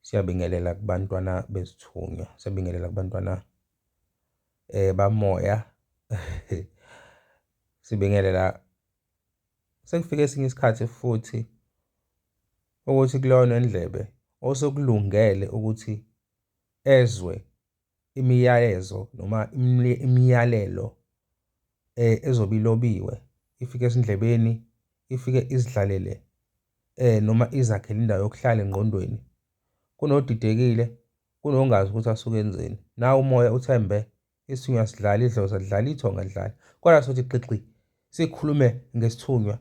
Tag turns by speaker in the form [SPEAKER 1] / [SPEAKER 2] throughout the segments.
[SPEAKER 1] Siyabingelela kubantwana bezithunywa, siyabingelela kubantwana bamoya. Sibingelela sekufike esinye isikhathi futhi ukuthi kuloyonendlebe osekulungele ukuthi ezwe imiyalezo noma imiyalelo eh, ezobe ilobiwe ifike esindlebeni ifike izidlalele eh noma izakhele indawo yokuhlala engqondweni kunodidekile kunongazi ukuthi asuke enzeni nawo umoya uthembe isinywa sidlala idlozi adlala ithonga adlala kodwa sothi xixi sikhulume ngesithunywa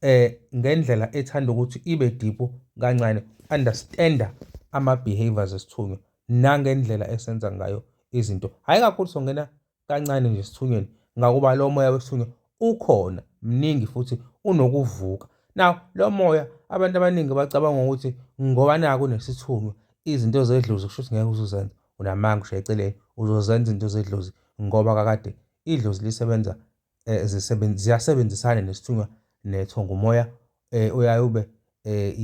[SPEAKER 1] eh ngendlela ethanda ukuthi ibe deep kancane understanda ama behaviors esithunywa nangendlela esenza ngayo izinto hayi kakhulu songena kancane nje esithunyweni ngakuba lo moya wesithunywa ukhona mningi futhi unokuvuka now lo moya abantu abaningi bacabanga ukuthi ngoba naku nesithunywa izinto zedlozi kusho ukuthi ngeke uzuzenza unamanga ushaye eceleni uzozenza izinto zedlozi ngoba kakade idlozi lisebenza eh, ziyasebenzisana nesithunywa netho ngumoya eh, uyaye ube eh,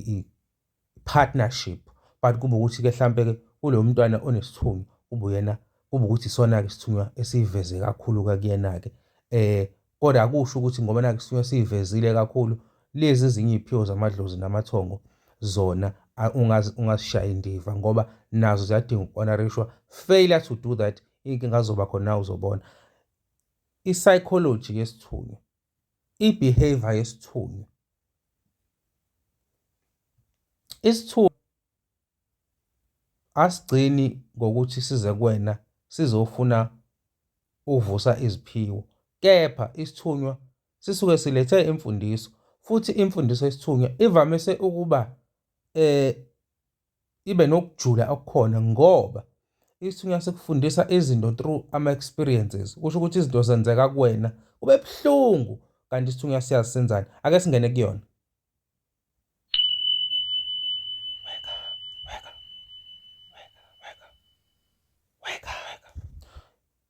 [SPEAKER 1] i-partnership but kube ukuthi-ke mhlampe-ke kulo mntwana onesithunywa kube uyena kube ukuthi isona-ke isithunywa esiyiveze kakhulu-ke kuyena-ke um kodwa akusho ukuthi ngoba nake isithunywa siyivezile kakhulu lezi ezinye iy'phiwo zamadlozi namathongo zona ungazishayi indiva ngoba nazo ziyadinga uku-honorishwa failure to do that inkinga azoba khona uzobona i-psychology yesithunywa, i-behavior yesithunywa. Isithunywa asigcini ngokuthi size kuwena sizofuna uvusa iziphiwo, kepha isithunywa sisuke silethe imfundiso futhi imfundiso yesithunywa ivamise ukuba eh ibe nokujula okukhona ngoba isithunywa sikufundisa izinto through ama-experiences kusho ukuthi izinto zenzeka kuwena kube buhlungu kanti isithunywa siyazi senzani ake singene kuyona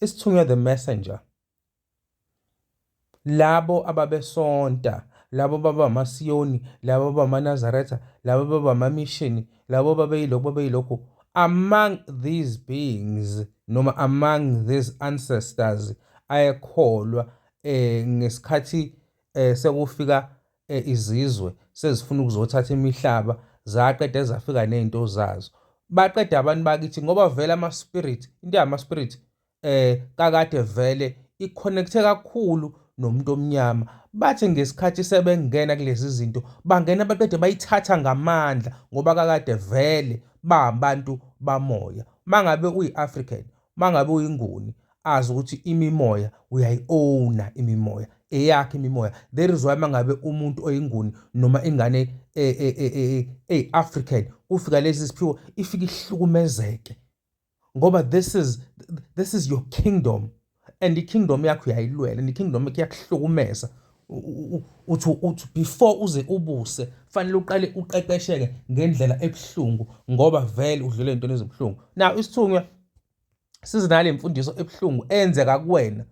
[SPEAKER 1] isithunywa the messenger Labo ababesonta, labo baba amaSiyoni, labo baba amaNazaretha, labo baba amamishini, labo babeyilokhu babeyilokhu, among these beings noma among these ancestors ayekholwa eh ngesikhathi eh sekufika eh, izizwe sezifuna ukuzothatha imihlaba zaqede zafika nezinto zazo baqeda abantu bakithi ngoba vele ama spirit into yama spirit eh kakade vele iconnecte kakhulu nomuntu omnyama bathi ngesikhathi sebengena kulezi zinto bangena baqede bayithatha ngamandla ngoba kakade vele babantu bamoya mangabe uyi-African mangabe uyinguni azi ukuthi imimoya uyayi-owna imimoya eyakhe imimoya there is why mangabe umuntu oyinguni noma ingane e-african e, e, e, kufika lezi ziphiwo ifike ihlukumezeke ngoba this is this is your kingdom and ikingdom yakho uyayilwela and ikingdom yakho iyakuhlukumeza uthi uthi before uze ubuse fanele uqale uqeqesheke ngendlela ebuhlungu ngoba vele udlule into ezibuhlungu now isithunywa sizinale imfundiso ebuhlungu enzeka kuwena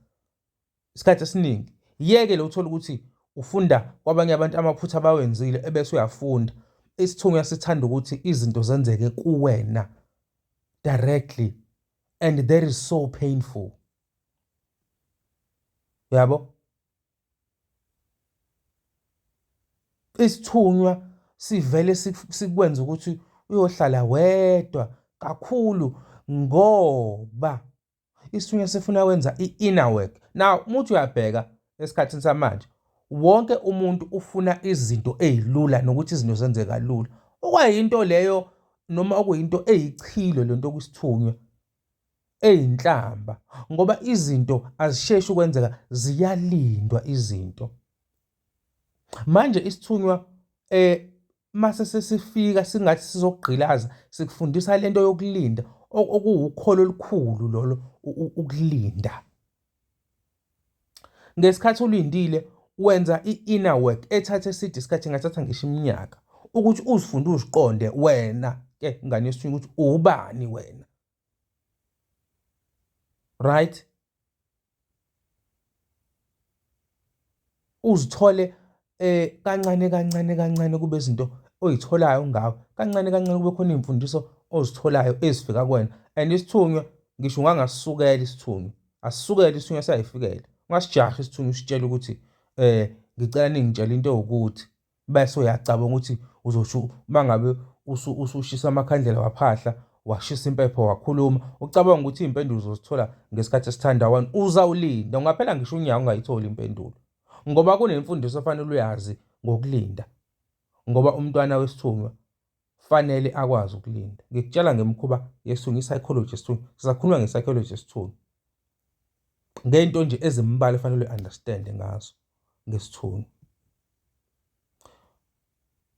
[SPEAKER 1] isikhathi esiningi yeke lo uthola ukuthi ufunda kwabanye abantu amaphutha abawenzile ebese uyafunda isithunywa sithanda ukuthi izinto zenzeke kuwena directly and that is so painful yabo isithunywa sivele sikwenza ukuthi uyohlala wedwa kakhulu ngoba isithunywa sifuna wenza i-inner work now muthi uyabheka esikhathini samanje wonke umuntu ufuna izinto ezilula nokuthi izinto zenzeka kalula okwayinto leyo noma okuyinto eyichilo lento kusithunywa eyinhlamba ngoba izinto azisheshi ukwenzeka ziyalindwa izinto Manje isithunywa eh mase sesifika singathi sizokugqilaza sikufundisa lento yokulinda okuwukholo olukhulu lolo ukulinda. Ngesikhathi ulindile wenza i-inner work ethathe eside isikhathi ngathatha ngisho iminyaka ukuthi uzifunde uziqonde wena ke ngane yesithunywa ukuthi ubani wena. Right? Uzithole eh kancane kancane kancane kube izinto oyitholayo ngawe kancane kancane kube khona izimfundiso ozitholayo ezifika kuwena and isithunywa ngisho ungangasukela isithunywa asisukele isithunywa sayifikela ungasijahi isithunywa usitshela ukuthi eh ngicela ningitshela into ewukuthi bese uyacabanga ukuthi uzosho uma ngabe usushisa amakhandlela waphahla washisa impepho wakhuluma ucabanga ukuthi iy'mpendulo uzozithola ngesikhathi esithanda wani uzawulinda ungaphela ngisho unyaka ungayitholi impendulo ngoba kunemfundiso ofanele uyazi ngokulinda ngoba umntwana wesithunywa Kufanele akwazi ukulinda. Ngikutshela ngemikhuba yesiThunu, i-psychology yesiThunu. Sisakhuluma nge-psychology yesiThunu. Ngento nje ezimbalwa efanele uyi-understand ngazo ngesiThunu.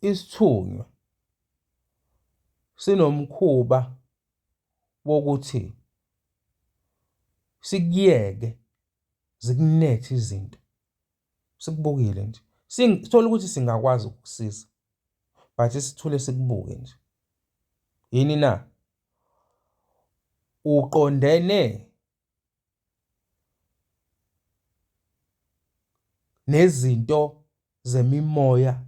[SPEAKER 1] Isithunywa sinomkhuba wokuthi sikuyeke zikunethe izinto. sikubukile nje sithola ukuthi singakwazi ukukusiza but sithule sikubuke nje yini na uqondene nezinto zemimoya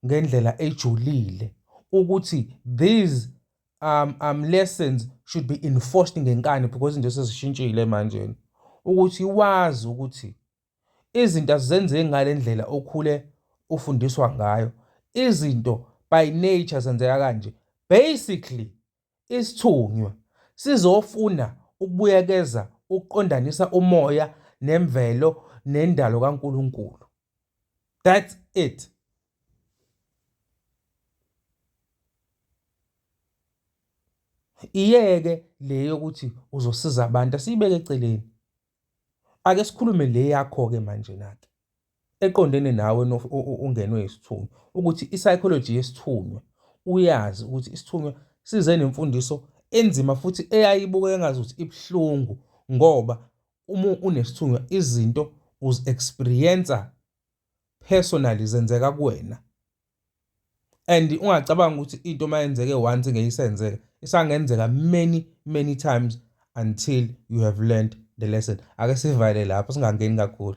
[SPEAKER 1] ngendlela ejulile ukuthi these um, um lessons should be enforced ngenkani because into sezishintshile manje ukuthi wazi ukuthi izinto azizenzeki ngale ndlela okhule ufundiswa ngayo izinto by nature zenzeka kanje basically isithunywa sizofuna ukubuyekeza ukuqondanisa umoya nemvelo nendalo kaNkuluNkulu that's it iyeke le yokuthi uzosiza abantu asiyibeke eceleni Ake sikhulume le yakho-ke manjena-ke eqondene nawe ongenwe isithunywa ukuthi i-psychology yesithunywa uyazi ukuthi isithunywa size nemfundiso enzima futhi eyayibuka engazi ukuthi ibuhlungu ngoba uma unesithunywa izinto uzi-experience personally zenzeka kuwena. and ungacabanga ukuthi into uma yenzeke once ngeyisenzeka isangenzeka many many times until you have learned the lesson ake sivale lapho singangeni kakhulu